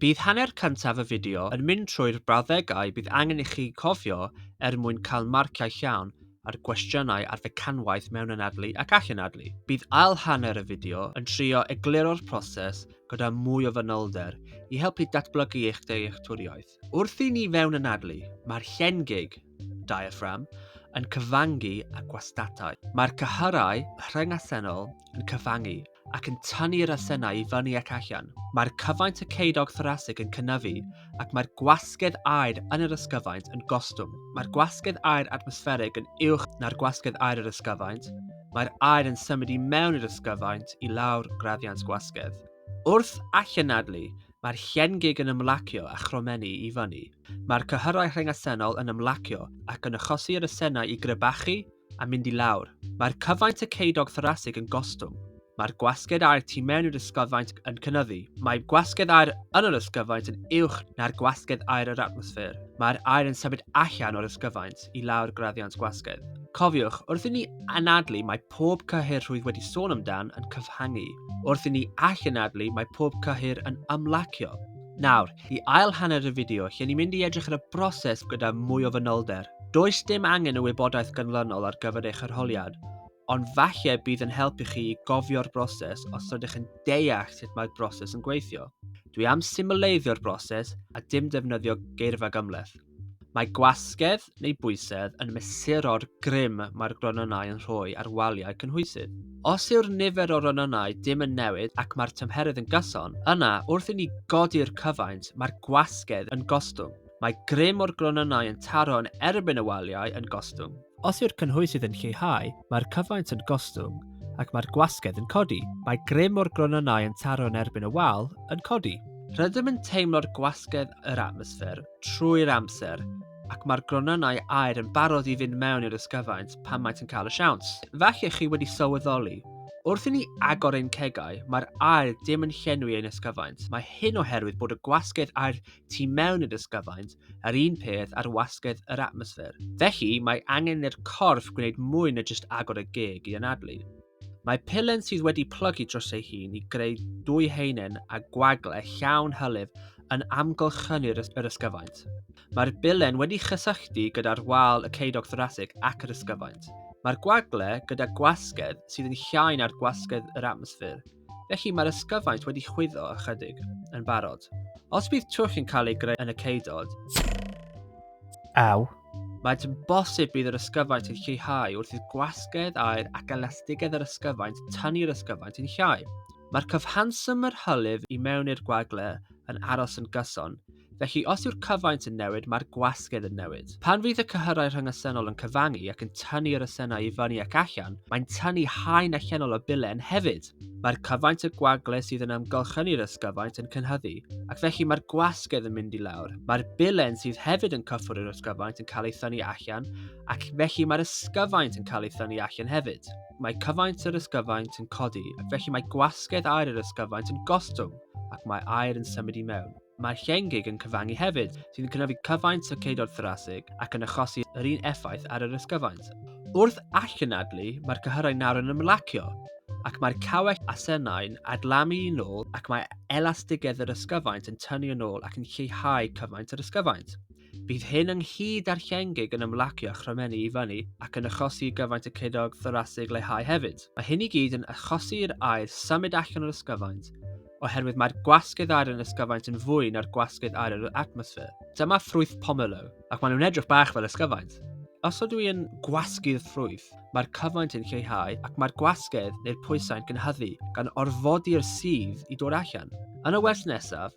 Bydd hanner cyntaf y fideo yn mynd trwy'r brawddegau bydd angen i chi gofio er mwyn cael marciau llawn ar gwestiynau ar fecanwaith mewnanadlu ac allanadlu. Bydd ail hanner y fideo yn trio egluro'r proses gyda mwy o fanylder i helpu datblygu eich dealltwriaeth. Wrth i ni fewnanadlu, mae'r llen gig, diaphragm, yn cyfangu â gwastatau. Mae'r cyhyrau rhyngasennol yn cyfangu ac yn tynnu'r asennau i fyny ac allan. Mae'r cyfaint y ceudog thorasig yn cynyfu ac mae'r gwasgedd aer yn yr ysgyfaint yn gostwng. Mae'r gwasgedd aer atmosfferig yn uwch na'r gwasgedd aer yr ysgyfaint. Mae'r aer yn symud i mewn i'r ysgyfaint i lawr graddiant gwasgedd. Wrth allanadlu, mae'r llen gig yn ymlacio a chromennu i fyny. Mae'r cyhyrau rhengasennol yn ymlacio ac yn achosi i'r asennau i grybachu a mynd i lawr. Mae'r cyfaint y ceudog thorasig yn gostwng. Mae'r gwasgedd aer tu mewn i'r ysgyfaint yn cynyddu. Mae gwasgedd aer yn yr ysgyfaint yn uwch na'r gwasgedd aer yr atmosffer. Mae'r aer yn symud allan o'r ysgyfaint i lawr graddiant gwasgedd. Cofiwch, wrth i ni anadlu mae pob cyhyr rhwydd wedi sôn amdan yn cyfhangu. Wrth i ni allanadlu mae pob cyhyr yn ymlacio. Nawr, I ail hanner y fideo, lle ni'n mynd i edrych ar y broses gyda mwy o fanylder. Does dim angen y wybodaeth ganlynol ar gyfer eich arholiad, ond falle bydd yn helpu chi i gofio'r broses os rydych yn deall sut mae'r broses yn gweithio. Dwi am symleiddio'r broses a dim defnyddio geirfa gymhleth. Mae gwasgedd neu bwysedd yn mesuro'r grym mae'r gronynnau yn rhoi ar waliau cynhwysydd. Os yw'r nifer o ronynnau dim yn newid ac mae'r tymheredd yn gyson, yna, wrth i ni godi'r cyfaint, mae'r gwasgedd yn gostwng. Mae grym o'r gronynnau yn taro yn erbyn y waliau yn gostwng. Os yw'r cynhwysydd yn lleihau, mae'r cyfaint yn gostwng ac mae'r gwasgedd yn codi. Mae grym o'r gronynnau yn taro yn erbyn y wal yn codi. Rydym yn teimlo'r gwasgedd yr atmosffer. trwy'r amser, ac mae'r gronynnau aer yn barod i fynd mewn i'r ysgyfaint pan maent yn cael y siawns. Falle chi wedi sylweddoli, wrth i ni agor ein cegau, mae'r aer dim yn llenwi ein ysgyfaint. Mae hyn oherwydd bod y gwasgedd aer tu mewn i'r ysgyfaint yr un peth â'r wasgedd yr atmosffer. Felly, mae angen i'r corff gwneud mwy na jyst agor y geg i anadlu. Mae pelen sydd wedi plygu dros ei hun i greu dwy heinen a gwagle llawn hylif yn amgylchynu'r yr ysgyfaint. Mae'r bilen wedi chysylltu gyda'r wal y ceidog thorasig ac yr ysgyfaint. Mae'r gwagle gyda gwasgedd sydd yn llai na'r gwasgedd yr atmosffer, felly mae'r ysgyfaint wedi chwyddo ychydig yn barod. Os bydd twll yn cael ei greu yn y ceudod, Aw, Maent yn bosib bydd yr ysgyfaint yn lleihau wrth i'r gwasgedd aer ac elastigedd yr ysgyfaint tynnu'r ysgyfaint yn llai. Mae'r cyfanswm yr hylif i mewn i'r gwagle yn aros yn gyson, felly os yw'r cyfaint yn newid mae'r gwasgedd yn newid. Pan fydd y cyhyrau rhyngysennol yn cyfangu ac yn tynnu yr ysennau i fyny ac allan, mae'n tynnu haen allanol o bilen hefyd. Mae'r cyfaint y gwagle sydd yn amgylchynu i'r ysgyfaint yn cynhyddu, ac felly mae'r gwasgedd yn mynd i lawr. Mae'r bilen sydd hefyd yn cyffwrdd i'r ysgyfaint yn cael ei thynnu allan, ac felly mae'r ysgyfaint yn cael ei thynnu allan hefyd. Mae cyfaint yr ysgyfaint yn codi, ac felly mae gwasgedd aer yr ysgyfaint yn gostwng, ac mae aer yn symud i mewn. Mae'r llengig yn cyfangu hefyd, sy'n cynyddu cyfaint y ceudod thorasig ac yn achosi yr un effaith ar yr ysgyfaint. Wrth allanadlu, mae'r cyhyrau nawr yn ymlacio, ac mae'r cawell a senau'n adlamu yn ôl ac mae elastigedd yr ysgyfaint yn tynnu yn ôl ac yn lleihau cyfaint yr ysgyfaint. Bydd hyn ynghyd â'r llengig yn ymlacio a chromennu i fyny ac yn achosi i gyfaint y ceunog thorasig leihau hefyd. Mae hyn i gyd yn achosi i'r aer symud allan o'r ysgyfaint, oherwydd mae'r gwasgedd aer yn yr ysgyfaint yn fwy na'r gwasgedd aer yr atmosffer. Dyma ffrwyth pomelo, ac maen nhw'n edrych bach fel ysgyfaint. Os ydw i yn gwasgu'r ffrwyth, mae'r cyfaint yn lleihau ac mae'r gwasgedd neu'r pwysau'n cynhyddu, gan orfodi'r sudd i dod allan. Yn y wers nesaf,